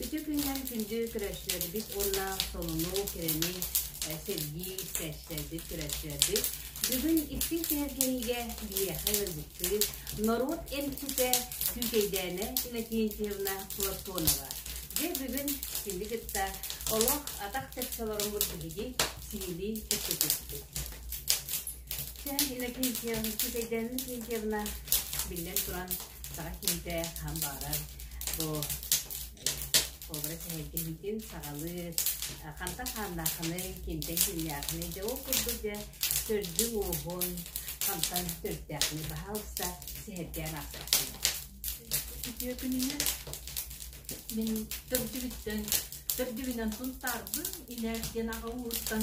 Ити күннэн күндү көрөөччүлэрбит уонна сонуну, кэрэни сэргии истээччилэрбит, көрөөччүлэрбит, бүгүн истиҥ сэһэргэһиигэ биһиэхэ ыалдьыттыы норуот эмчитэ, түүкэйдээнэ Иннокентьевна Платонова. Дьэ бүгүн синди кытта олох атах чаччаларыммыт биһиги сиһилии кэпсэтиэхпит. Сэн Иннокентьев, Түүкэйдээн Иннокентьевна, биллэн туран, саҕа киһитэ хаһан баҕарар бу образ эһэйдэһиитин саҕалыыр хантан хааннааххыный кимтэн кимнээххиний дьэ ол курдук дьэ төрдүн-ууһун хантан төрүттээххиний баһаалыста сэһэргээн аахсарсын үтүө күнүнэн мин төрдүбүттэн төрдүбүнэн сунтаарбын илэ диэн аҕа ууһуттан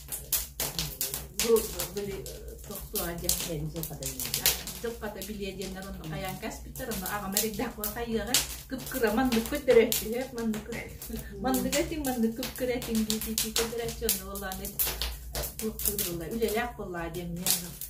дьылхата билиэ диэннэр онно хайаан каспиттар онно аҕам эрийдэхпэ хайыаҕа кыпкыра манныкпыт дөрөттүһэ маннык маннык этиҥ маннык кыпкыра этиҥ дии дии дии көтөрөччү онно буолааны туохтуур буолла үлэлээх боллаа диэмниэн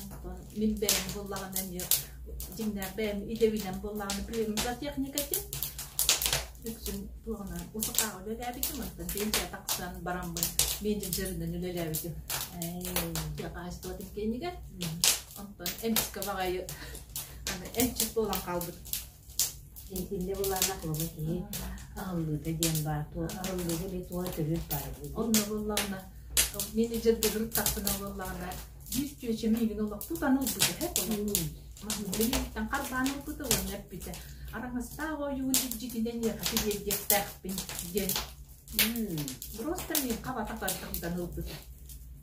Онтон мин бэйэм буллаҕына эмиэ дьиҥнээх бэйэм идэбинэн буллаҕына приемник техникатин үксүн туоҕунан усукаҕа үлэлээбитим онтон пенсия тахсан бараммын менеджер дьарынан үлэлээбитим техаачествотын кэннигэр онтон эмискэ баҕайы аны эмчит буолан хаалбытым Интимҥэ былаана клуба киһи аһыллыыта диэн баар. Туо аһыллыыга эбии туох өтөрү баар эбит. Онно ылыллаҕына, менеджердэрин тахсына ылыллаҕына, биир чүөчэ миигин олохпут аны ылбыта эһэ хойуун. Билиниттэн харбаан ылбыта уонна эппитэ, араҥастаах ойуун илдьитинэн иэхати биэрдиэхтээхпин диэн. Просто мин хабата бардыктан ылбыта.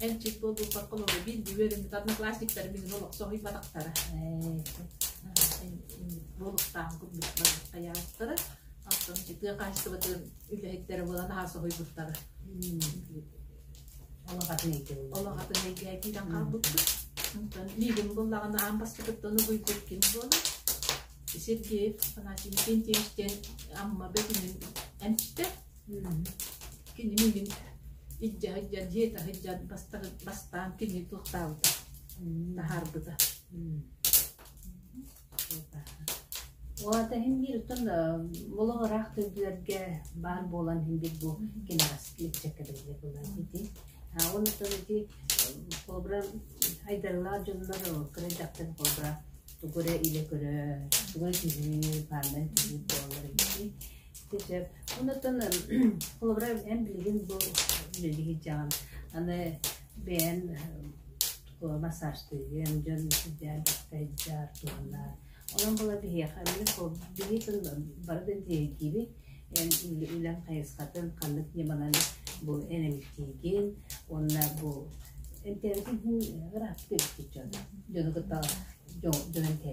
эн чит буолбуппакка олору биллиби ырымытар однокласстиктар билин олох соһуйбатахтара буолуктаах курдук хайаастара оттон тыа хаачыстыбатын үлэһиттэрэ буолан аһа соһуйбуттара олохатын эйгэ киирэн хаалбыппыт онтон миигин буллаҕына аан бастакыттан угуйбут ким буолар Сергеев Афанасий Иннокентьевич диэн Амма бөтүнүн эмчитэ Кини миигин илдьэ сылдьар, дьиэтэ сылдьан бастаан бастаан кинини туохтаабыта, таһаарбыта. Ол аата иһин биир оттон олох ыраах төрдүлэргэ баар буолан иһин биир бу кэнэҕэс липчэккэ биллэр буолан ити. Ол оттон ити холобура айдарылаах дьоннор кыра дьахтар холобура тугу эрэ илэ көрө, тугу эрэ түһүү, паанда түһүү буолар эбит. Дьэ, онтон холобура эн билигин бу дьиэҕин аны бэйэн массажтыыгын, дьон сыдьаадыктайдьар, туһанар. Онон була биһиэхэ биһиэхин бары да тиэрдиибит эн үлэҥ хайысхатын ханнык ньыманан бу энэмтиигин уонна бу энтээбитин иһин ыраахтык эбиккит дьон дьону кытта дьон дьон этэ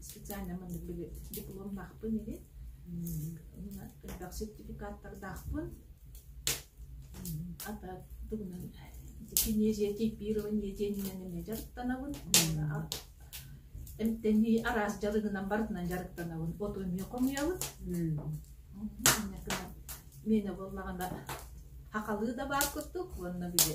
специально мындытыгы дипломнаахпын ини элбэх сертификаттардаахпын ата тугунан кинезия типирование диэнинэн эмиэ дьарыктанабын эмтэнии араас дьарыгынан барытынан дьарыктанабын оту эмиэ хомуйабын мене буоллаҕына хахалыы да баар курдук уонна били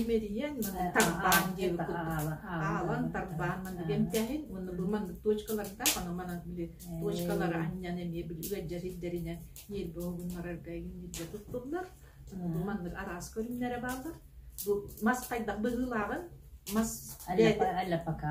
имэрийэн тарбаан диэби аалан тарбаан манна дэмтээһин уонна бу маннык точкалардаах аны манан били точкалары анньан эмиэ били ыгаддьар ирдэринэн ньиэрбэ угуннарарга игинниргэ туттуллар бу маннык араас көрүннэрэ бааллар бу мас хайдах быһыылааҕын мас аллапака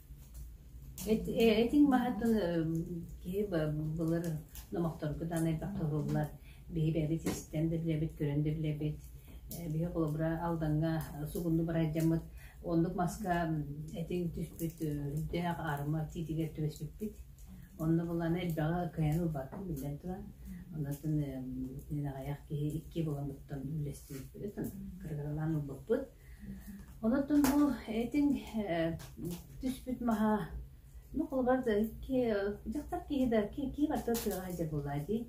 Этиҥ маһытын киһи былыр номохторго даҕаны элбэх туһуллар. Биһи бэйэбит истэн да билэбит, көрөн да билэбит. Биһи холобура Алдаҥҥа сугунну бырайдаммыт, оннук маска этиҥ түспүт үрдээх арыма тиитигэр түбэспиппит. Онно булан элбэҕи кыайан ылбаппын биллэн туран. Оннуттан итинэн аҕыйах киһи икки буоламмыттан үллэстибиппит, кырыгыралаан ылбыппыт. Онон бу этиҥ түспүт маһа ну холобур дьахтар киһи да киһи барыта ытыаҕа сылдьар буоллаҕа дии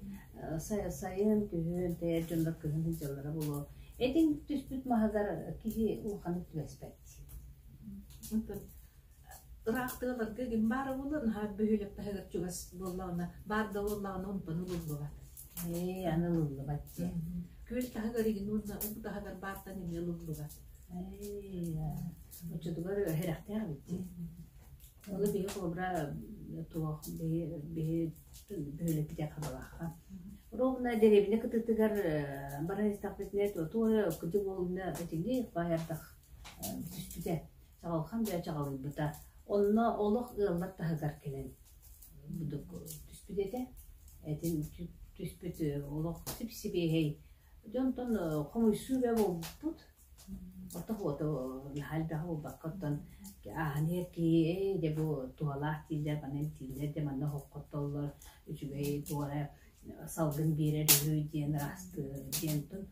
сайын күһүн тэйэр дьоннор кыһын сылдьаллара буолуо этиҥ түспүт маһыгар киһи улаханнык түбэспэт Ыраахтыгабарга ким баар буолуо, наһаа бөһүөлэк таһыгар чугас буоллаҕына, баар да буоллаҕына онтон ылыллыбат. Ээ, аны ылыллыбат диэн. Күөл таһыгар игин уонна уу таһыгар баартан эмиэ ылыллыбат. Ээ, оччотугар сэрэхтээх эбит дии. Ону биһи холобура туох биһи биһи бөһүөлэкпитэ хабалаахха. Ровно деревня кытытыгар баран истэхпитинэ туо кыдьык уолуна этиҥи баайардах түспүтэ. Чаҕылхан бэйэ чаҕылыйбыта. Онно олох ыаллар таһыгар кэлэн түспүт этэ. Этин түспүт олох сип-сибиэһэй. Дьонтон хомуйсуу бэ буолбут. Ортох уоту наһаа элбэҕи булбакка оттон ааһан иһэр киһи дэ бу туһалаах дииллэр, манан дииллэр дэ манна хоттоллор, үчүгэй туора салгын биэрэр үһү диэн ырастыы диэн тон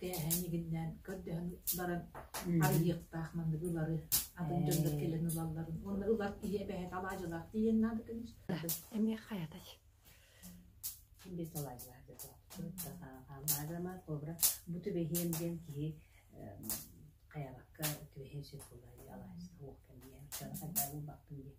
кээһэн игиннээн көрдөһөн баран арыйыахтаах манныгы ылары атын дьоннор кэлэн ылалларын уонна ылар киһи эбэһэт алаадьылаах тиийэн наада көнүс эмиэ хайатач без алаадьылаах аамаадама кобра бу түбэһиэн диэн киһи хаябакка түбэһиэн сөп буолар алаадьыта уох кэмиэн кара хайдаа булбакпын диэн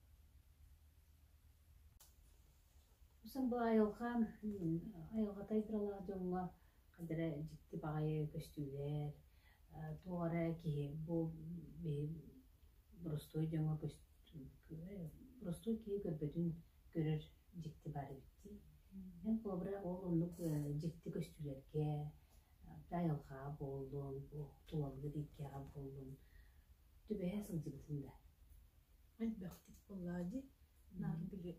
Сан бу айылҕа айылҕата айдаралаах дьоҥҥо ханна эрэ дьикти баҕайы көстүүлэр э туох эрэ киһи бу боростуой дьоҥҥо боростуой киһи көрбөтүн көрөр дьикти баар эбит дии. Эн холобура ол оннук дьикти көстүүлэргэ айылҕаҕа буоллун, туоллун, иккиэҕэ буоллун түбэһэ сылдьыбытым да элбэхтик буоллаа дии наар били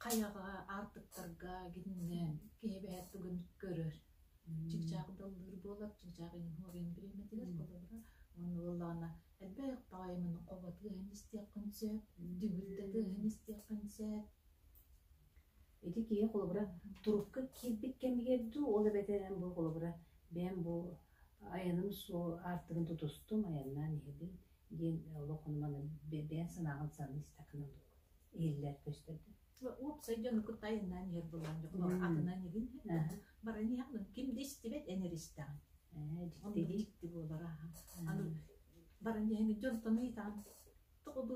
хайаҕа аартыктарга гиннээн киһи бэһэр тугун көрөр чыпчаах даллыыр буолар чыпчаах иһуовен бириэмэтигэр холобура уонна буоллаҕына элбэх баҕайымын хобатыаһын истиэххин сөп дүгүрдэтиэһин истиэххин сөп ити киһи холобура турукка киирбит кэмигэр дуу ол эбэтэр эн бу холобура бэйэм бу Айаным суол аартыгын тутустум, айаннаан иһэбин, диэн олох маны бэйэм санаабын саныы истэххинэ иһиллэр көстөрдө. Уопсай дьону кытта айаннаан иһэр буолан дьоҕолор атынан иһин баран иһэҕин ким да истибэт энэр истэҕин. Ээ дьикти дьикти буолара аны баран иһэҥҥит дьонтон ыйытаҕын тоҕо бу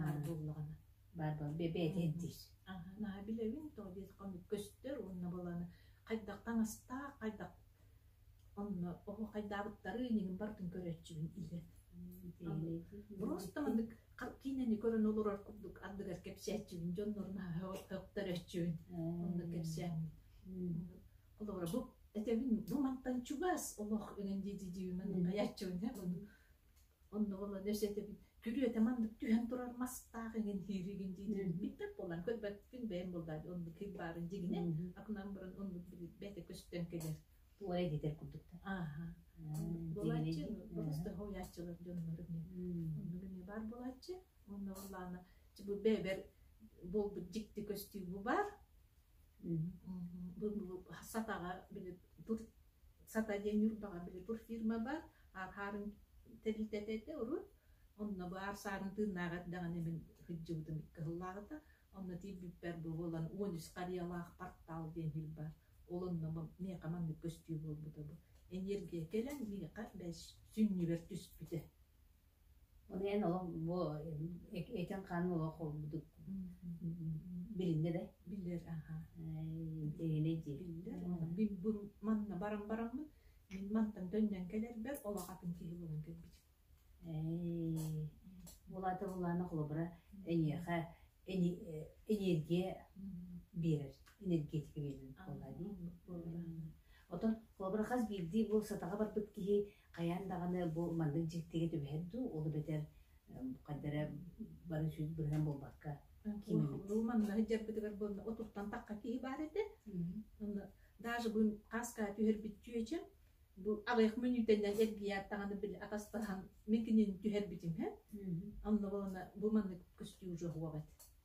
Баар буоллаҕына. Баар буол, бэйэтин диир. Наһаа билэбин, то детка көстөр уонна баланы хайдахтан астаах, хайдах онно оһо хайдаабыттары инигин бартын көрөөччүбүн илен. Просто мандык киинэни көрөн олорор курдук андыгар кэпсээччүбүн дьоннорун өттөрөччүбүн онно кэпсээмин. Олора бу этэбин бу мантан чугас олох өнөн дии диибин манан каяаччыбын Онно Володя эсэтэбин «Түрүөтэ маннык түһэн турар мастаах эҥин диир игин диитин билбэт буоллаҕа, көрбөккүн бэйэм булбаат оннук кыйк баарын дьигинэ акунан буран оннук билбэтэ көстөн кэлэр буолай диэтэр курдук да ааһа буолааччы болостарга уйааччылар дьоннору оннук эмиэ баар буолааччы онно Валана бу бэбэр буолбут дьикти көстүүбу бар бу сатаҕа били Сата диэн Ньурбаҕа били пур фирма баар, ааһаарын тэрилтэтэ этэ урут, онно баар саанан тыыннааҕа эрдэҕинэ мин кыдьыбытым икки сыллааҕыта, онно тиийбиппэр буолан уон үс харыйалаах портал диэн сир баар, ол онно миэхэ маннык көстүү буолбута бу. Эниэргийэ кэлэн миэхэ бэс сүнньүгэр түспүтэ Ону эн олох бу этиҥ-хаанын олох холбудук билиннэ да? Билэр, аха. Дэйэнэй дии. Биллэр. Билбин манна баран бараммын, мин мантан төннөн кэлэрбэр олох атын киһи буолан кэлбитим. Ээй, улаата улаана холобура эйиэхэ энергия биэрэр, энергетика биэрэр буолла дии. Оттон холобура хас биирдии бу сатаҕа барбыт киһи Хайаан даҕаны бу маннык дьиктигэ түбэһэр дуу, ол эбэтэр ханна эрэ бары сүүс быһынан буолбакка кииммит. Уу манна сылдьарбытыгар буонна отуттан тахха киһи баар этэ. Онно даже бу хаска түһэрбит чүөчэм бу аҕыйах мүнүүтэнэн эргийэ аттаҕаны били атастаһан мин кинини түһэрбитим һэ. Онно буолана бу маннык көстүү уже хуабат.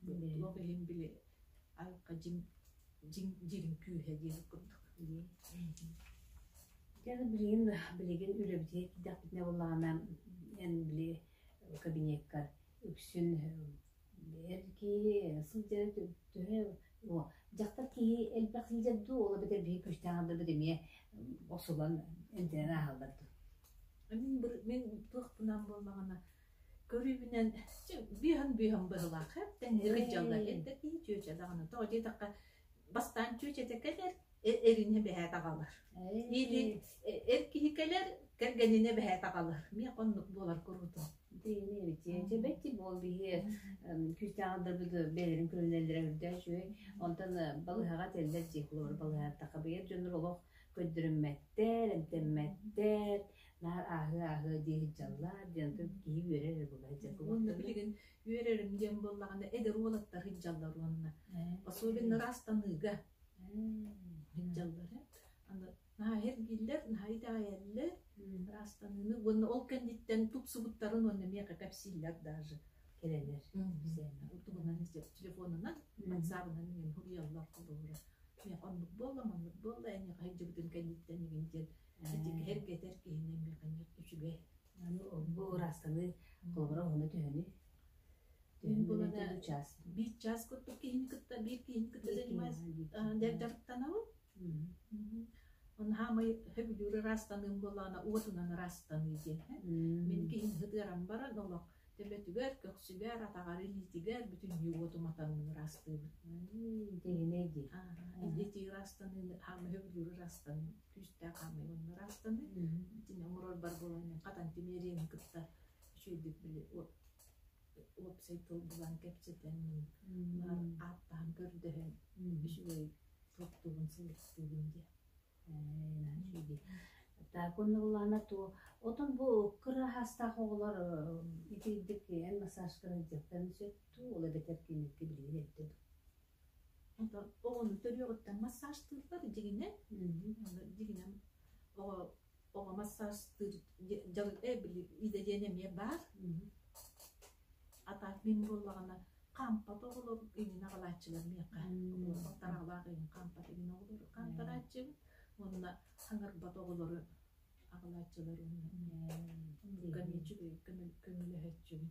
Туох иһин били алка дьиҥ дьиҥ дьириҥ күүһэ диэбит курдук. Дьэ билигин билигин үлэбитигэр киирдэхпитинэ буоллаҕына эн били кабинеккар үксүн эргии сылдьара төһө о дьахтар киһи элбэх сылдьар дуу ол эбэтэр биһи күүстээҕэр да эмиэ охсулан эмтэнэн ааһаллар дуу. Мин мин туохпунан буоллаҕына көрүүбүнэн быыһан-быыһан быһылаах эптэнэрин дьаллар эттэрдии чүөчэ даҕаны тоҕо диэтэххэ бастаан чүөчэтэ кэлэр эринэ бэһээт аҕалар или эр киһи кэлэр кэргэнинэ бэһээт аҕалар миэх оннук буолар куруутун дьэ бэчи буол биһиэр күүстээх да бэйэлэрин көрүнэллэрэ үрдөөс үүй онтон балыһаҕа тэллэр дии хлор балыһааттаха быйар дьоннор олох көрдөрүммэттэр эмтэммэттэр наар ааһыа-ааһыа дии сылдьаллар диэн тук киһи үөрэр эрэ буолла сыдьалга уонна билигин үөрэрим диэн буоллаҕына эдэр уолаттар сыдьаллар уонна особенно ыраастаныыга сыдьаллар аны наһаа эргииллэр наһаа итэҕэйэллэр ыраастаныыны уонна ол кэнниттэн тупсубуттарын уонна миэхэ кэпсииллэр даже кэлэлэр утугунан телефонунан ватсабынан мин суруйаллар холобура миэхэ оннук буолла маннык буолла эйиэхэ сылдьыбытын кэнниттэн игин диэн Ситикэһэр кэтэр киһини механизм үчүгэй. Аны бу ыраастаныы холобура уһуна түһэни. Түһэн булана чаас. Биир чаас курдук киһини кытта биир киһини кытта занимаясь дьарыктанабын. Оны хаамай хөбүдүүр ыраастаныым болаана уотунан ыраастаныы диэн. Мин киһин хытыарам баран олох төбөтүгэр, көхсүгэр, атаҕар, илиитигэр бүтүннүү уотуматанын ыраастыыбын. Тегинэй ди. Идети ыраастаныыны хаамай хөбүдүүр ыраастаныым. күүстээх хаамыылыннар аастаны итини оҥорорбор буолан мин хатан тимиэриэни кытта үчүгэйдик били уопсай тыл булан кэпсэтэн ааттаһан көрдөһөн үчүгэй туттугун сылыктыыбын диэн так оннуллана то отон бу кыраһастаах оҕолор итиитик эн массаж кырайдьыттан сөтту ол эбэтэр киникки билигин эттим оҕону төрүөҕүттэн массажтыыллар дьиҥинэн дьиҥинэн оҕо оҕо массажтыыр дьон били идэлиэн эмиэ баар а так мин буоллаҕына хаампат оҕолор иҥин аҕалааччылар миэхэ хаампат иҥин оҕолору хаамтарааччыбын уонна хаҥырбат оҕолору аҕалааччылар уонна эмиэ үчүгэй көмөлөһөөччүбүн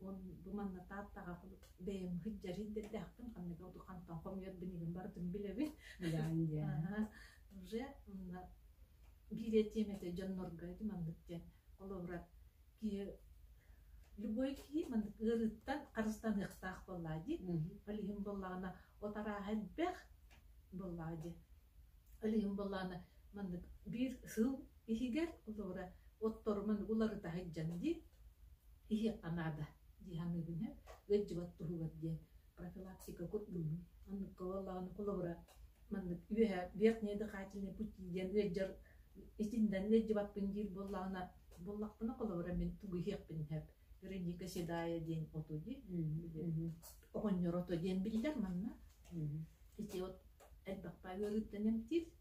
Уон бу манна Тааттаҕа бэйэм сылдьарый да эрдэхпин, ханнык хантан хомуйар билигин барытын билэбин. Ыйаан диэн. Аһа, уже манна биирэ тиэмэтэ дьоннорго ити маннык диэн. Холобура, киһи любой киһи маннык ыарыыттан харыстаныахтаах буоллаа дии. Ол иһин буоллаҕына от арааһа элбэх буоллаҕа дии. Ол иһин буоллаҕына маннык биир сыл иһигэр Зора отторумун уларыта сылдьан дии, иһиэххэ наада дии саныыбын ээ, ыалдьыбат туһугар диэн профилактика курдугум. Маннык ылаллаҕына холобура маннык үөһэ верхние дыхательные пути диэн ыалдьар итиннэн ыалдьыбаппын диир буоллаҕына буоллахпына холобура мин тугу иһиэхпин сөп вероника седая диэн оту дии оҕонньор ото диэн биллэр манна ити от элбэхпэ ыарыыттан эмтиир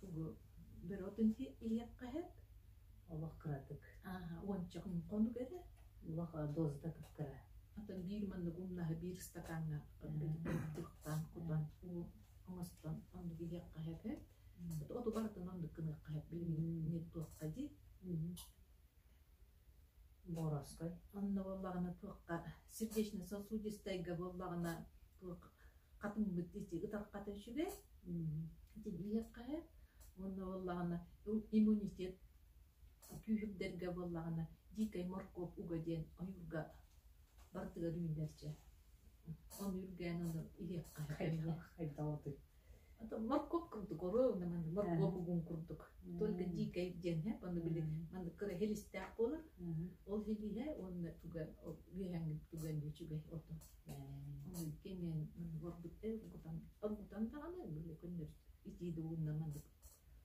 Тугу бөрөтүн иһиэххэһит олох кыратык уончатын хонук эрэ улах дозда кыттара атын биир маннык умнаһы биир стакаҥҥа тыктан кутан оҥостон оннук иһиэххэһэт оту барытын оннук гыныаххэһэт билигин туохха дии Боровской онно буоллаҕына туохха сердечно-сосудистайга буоллаҕына туох хатыҥмыт ити ытархата үчүгэй тилийиэххэ ээ уонна буоллаҕына иммунитет күүһүрдэргэ буоллаҕына дикай моркуоп уга диэн ойуурга барытыгар үүнэр дьэ ону үргээн ону иһиэххэ хайдаҕытый моркуоп курдук оруол наман моркуоп угун курдук только дикай диэн манна били манна кыра хилистээх буолар ол хилиһэ уонна туга үөһэҥҥин туган үчүгэй ото кимиэн оргутан оргутан даҕаны били көннөр итииде уунна маннык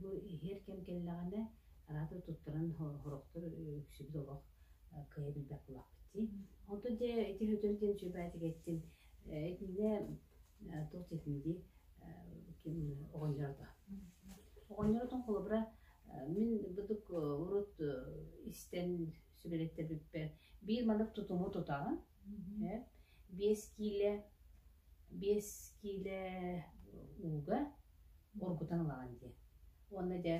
Бу иһэр кэм кэллэҕинэ араатар туттаран сорохтор үксүбүт олох кыайа билбэт буолахпыт дии. Онтон дьэ ити өтөр диэн сүбээтик эттим. Этинэ туох диэтин дии ким оҕонньорото. Оҕонньоротон холобура мин бытык урут истэн сүбэлэттэрбиппэр биир маннык тутуму тутаҕын. Биэс киилэ биэс киилэ ууга ургутан ылаҕын дии уонна дьэ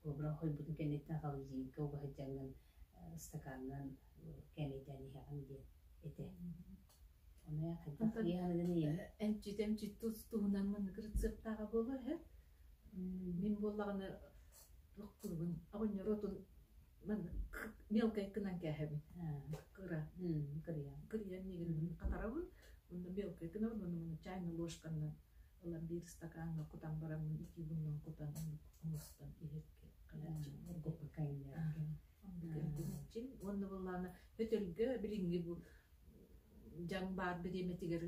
кобра хойбутун кэнниттэн холодильникка угаһыдьаҥҥын ыстакаанынан кээмэйдээн иһэҕин диэн этэ ону эмчит эмчит туһунан маннык рецептааҕа буолуо үһү мин буоллаҕына туругун оҕонньороотун мелкой гынан кээһэбин кыра кырыйан кырыйан мигрин хатарабын онно мелкой гынабын онно маны чайна ложканнан ылан биир стакаҥҥа кутан бараммын итии муннун кутан мустан иһиргиэххин уонна буоллаана өтөргө билиҥҥи бу дьаҥ баар бириэмэтигэр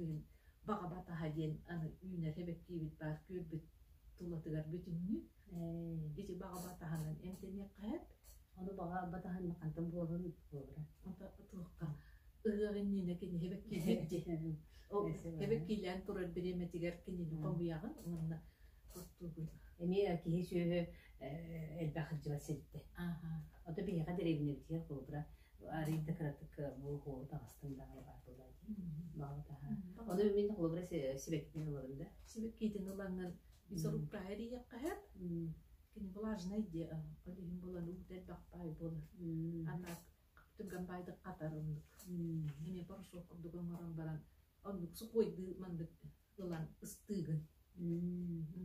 баҕа батаһа диэн аны үүнэр эбэктиибит баар күөрбүт тулатыгар бүтүннүү Ити баҕа таһынан эмтэниэххэ сөп. Ону баҕа батаһынна хантан буоларын буолара. Отуохха ырыах иннинэ киниһэ бэккиилээн эбэккиилээн турар бириэмэтигэр кинини хомуйаҕын уонна оттуугун. Эмиэ киһи сүөһү элбэх сылдьыбат сирдэ. Ото биһиэхэ дэриэбинэбитигэр холобура арыйда кыратык буоһуо таҕыстым даҕаны баар буолаа дии. Баҕа таһа. Ону мин холобура сибэккитин ыларым да. Сибэккитин ылаҥын И зарукка эрийэххэһэт кини влажнай диэ иһин булан уут элбэх баай буолар аннак түгэн баайдык хатар оннук эмиэ порошок курдук оҥорон баран оннук сукуойдыы маннык ылан ыстыыгын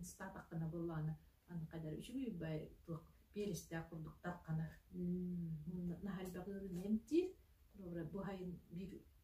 ыстаатаххына буоллаана аны қайдары үчүгүй бай туох перестээх курдук тарханар наһальбаҕыырын эмтиир бу хайын бир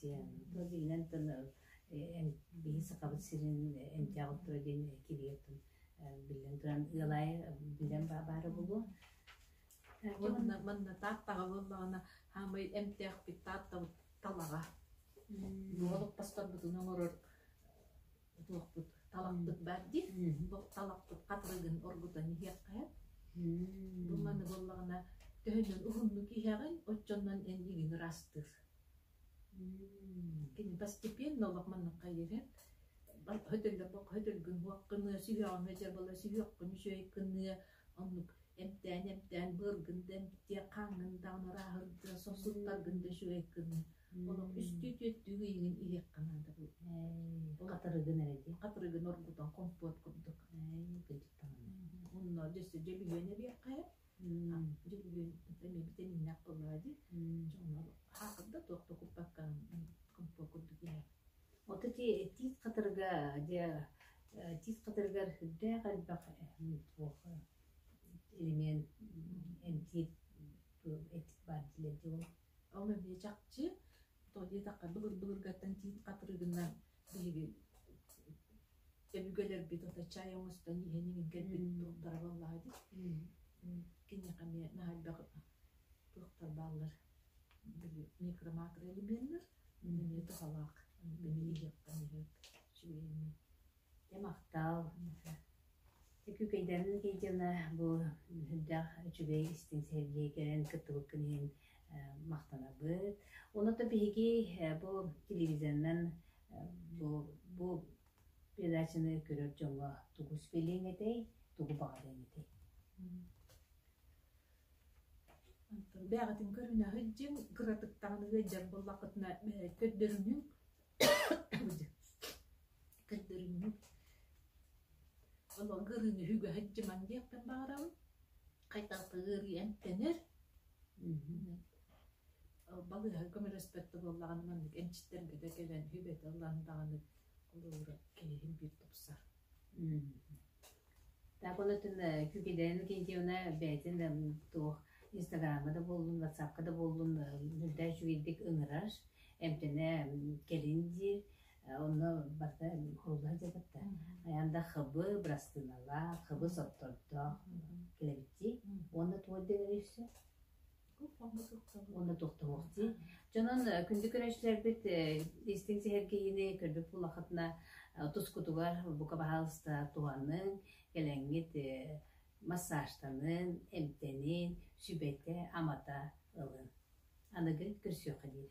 Тыл иһинэн тыл биһи Сахабыт сирин эмтээҕи тыл диэн кирийэтин биллэн туран ыал аайы билэн баара буолуо. Манна манна Тааттаҕа буоллаҕына хаамай эмтээхпит Тааттабыт талаҕа. Уолук пасторбутун оҥорор Ытыахпыт, таламмыт баар дии. Талаппыт хатырыгын оргутан иһиэххэ. Бу маны буоллаҕына, төһөнөн уһуннук иһэҕин, оччонон эйигин ыраастыыр. Кини постепенно олох манныкка иһэр. Хөтөллөккө хөтөлгүн сүһүөҕүҥ этэ буола сүһүөххүн үчүгэй гыныа. Оннук эмтээн эмтээн быаргын да эмтиэ, хааҥҥын даҕаны арааһырдыа, сорсуттаргын да үчүгэй гыныа. Үстүү түөртүү ыйыгын иһиэххэ наадабыл. Хатырыгын эрэ диэн. Хатырыгын оргутан компот курдук. Онно дьэссе дьөлүйүөн эбиэххэ. Дьөлүйүөн эмиэ битэниннэх болаа ди. Чоҥнор хаакырда туох токуппаккан компот курдук иһэ. Ото ти тиис хатырга дьэ тиис хатыргар үрдээх элбэх туох элемент эмтиир этик бар дилэр Ол эмиэ чахчы. То диэтэххэ былыр-былыргаттан тиит хатырыгынан биһиги өбүгэлэрбит ото чай оҥостон иһэн иҥиргэтин туттарар буоллаҕа ити. Киниэхэ эмиэ наһайдах туохтар бааллар били микромакроэлеменнэр эмиэ туһалаах. Били иһиэхтэн иһэр үчүгэй эмиэ Дьэ махтаал, ити Күкэйдээн Кэйдиэна бу сүрдээх үчүгэй истиҥ сэһэргии кэлэн кыттыбыккын иһин махтанабыт. Онуота биһиги бу телевизорынан бу бу передачаны көрөр дьоҥҥо тугу сипэлиэҥ этэй, тугу баҕарыаҥ этэй? Бэйэҕитин көрүнэ сылдьыҥ, кыратык даҕаны ыалдьар буоллаххытына көрдөрүнүҥ. Олорго ырыыны үгэһин дьымаҥ диэхпин баҕарабын. Хайтахта ыарыйан тэнэр. Балыыһа көмөлөспөттө буоллаҕына маннык эмчиттэргэ да кэлэн, сүбэтэ ылан даҕаны холобура киһиһин биир тупсар Так онотун күкүлээн Кентьевна бэйэтин да туох инстаграмҥа да буоллун, ватсапка да буоллун үрдээк үчүгэйдик ыҥырар, эмтэнэ кэлин диир, онно барыта курулла сылдьыбыттар. Хайаан да хабы, бырастыыналаах, хабы соттордоох кэлэбиттии уонна туох диэбэрий все уонна тохтомохтуу. Дьонун күндү көрөөччүлэрбит истиҥ сэһэргэһиини көрбүт буоллаххытына тускутугар бука баһаалыста туһаныҥ, кэлэҥҥит массажтаныын, эмтэниин, сүбэтэ-амата ылыҥ. Аныгы көрсүөххэ диир